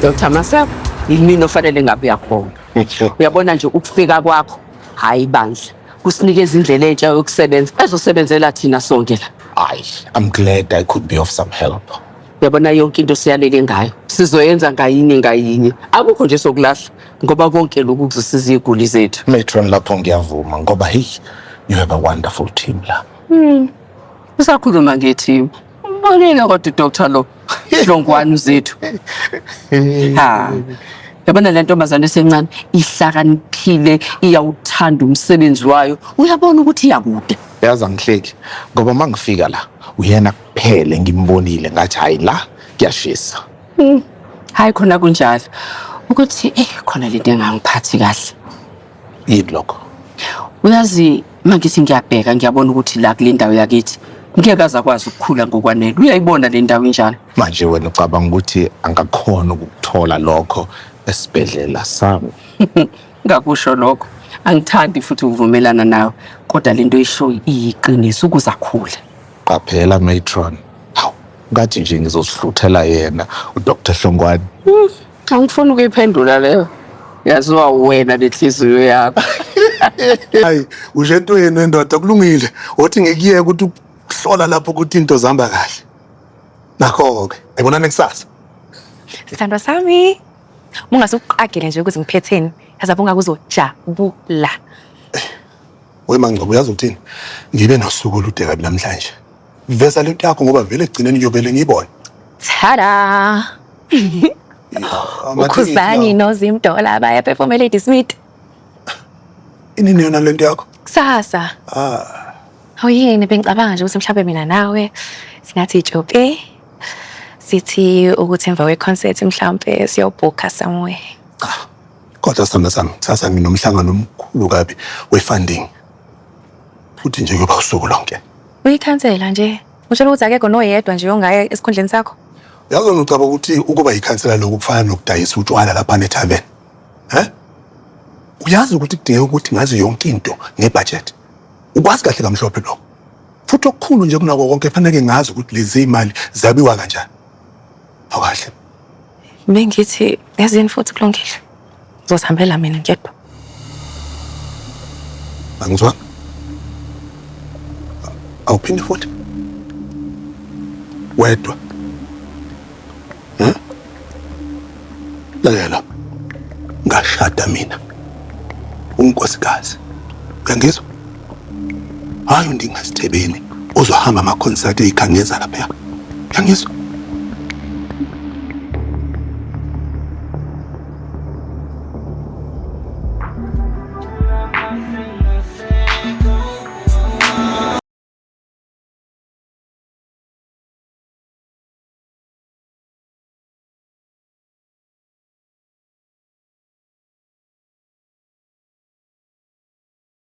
Dr. Maseko, yimina ofanele ngabe uyakhona. Uyabona nje ukufika kwakho hayi bandla kusinikeza indlela entsha yokusebenza ezosebenzela thina sonke la. Ay, I'm glad I could be of some help. Uyabona yonke into siyalele ngayo sizoyenza ngayinye ngayinye akukho nje sokulahla ngoba konke lokhu kuzosiza iziguli zethu. Matron lapho ngiyavuma ngoba hey, you have a wonderful team la. Usakhuluma ngethi Ubalile kodwa udoctor lo. Idlongwane uzethu. Ha. Yabona le ntombazane esencane ihlakaniphile iyawuthanda umsebenzi wayo. Uyabona ukuthi iyakude. yazi angihleki ngoba uma ngifika la uyena kuphele ngimbonile ngathi hhayi la kuyashisa Hayi khona kunjalo. Ukuthi eh khona lento engangiphathi kahle. yini lokho uyazi mangithi ngiyabheka ngiyabona ukuthi la kule ndawo yakithi ngeke aze akwazi ukukhula ngokwanele uyayibona le ndawo injalo manje wena ucabanga ukuthi angakhona ukuthola lokho esibhedlela sami ngakusho lokho angithandi futhi ukuvumelana nawe kodwa le nto ishoyo iyiqiniso ukuze akhule qaphela matron hawu ngathi nje ngizosihluthela yena udr hlongwane Angifuni ukuyiphendula leyo. Yaziwa wena nenhliziyo yakho. Hayi, usho entweni wendoda kulungile. Wothi ngikuyeke ukuthi ukuhlola lapho ukuthi into zihamba kahle. Nakho-ke, ayibonani kusasa. Sithandwa sami. Ungase uqagele nje ukuthi ngiphetheni. Yazi abunga kuzojabula. Wemangcobo uyazi ukuthini? Ngibe nosuku olude kabi namhlanje. Vesa lento yakho ngoba vele ekugcineni ngiyovele ngiyibone. Tada! Ukhuzani noZim Dollar baya perform eLady Smith. Inini yona lento yakho? Kusasa. Ah. Awuyini bengicabanga nje ukuthi mhlawumbe mina nawe singathi ijoke. Sithi ukuthi emva kweconcert mhlawumbe siyobhukha somewhere. Cha. Kodwa sithanda sami, kusasa nginomhlangano omkhulu kabi we-funding. futhi nje kuyoba usuku lonke uyikhansela nje utshela ukuthi akekho noyedwa nje ongaye esikhundleni sakho yazi wena ucaba ukuthi ukuba yikhansela lokhu kufana nokudayisa utshwala lapha nethaven um uyazi ukuthi kudingeka ukuthi ngazi yonke into ngebhajethi ukwazi kahle kamhlophe lokho futhi okukhulu nje kunako konke faneke ngazi ukuthi lezi imali zabiwa kanjani awukahle bengithi yazini futhi kulungile Ngizosihambela mina ngedwa. Angizwa. Awuphinde futhi. Wedwa. Hm? Lalela. Ngashada mina. Unkosikazi. Uyangizwa? Hayi undingasithebeni ozohamba ama concert eyikhangeza lapha. Yangizwa.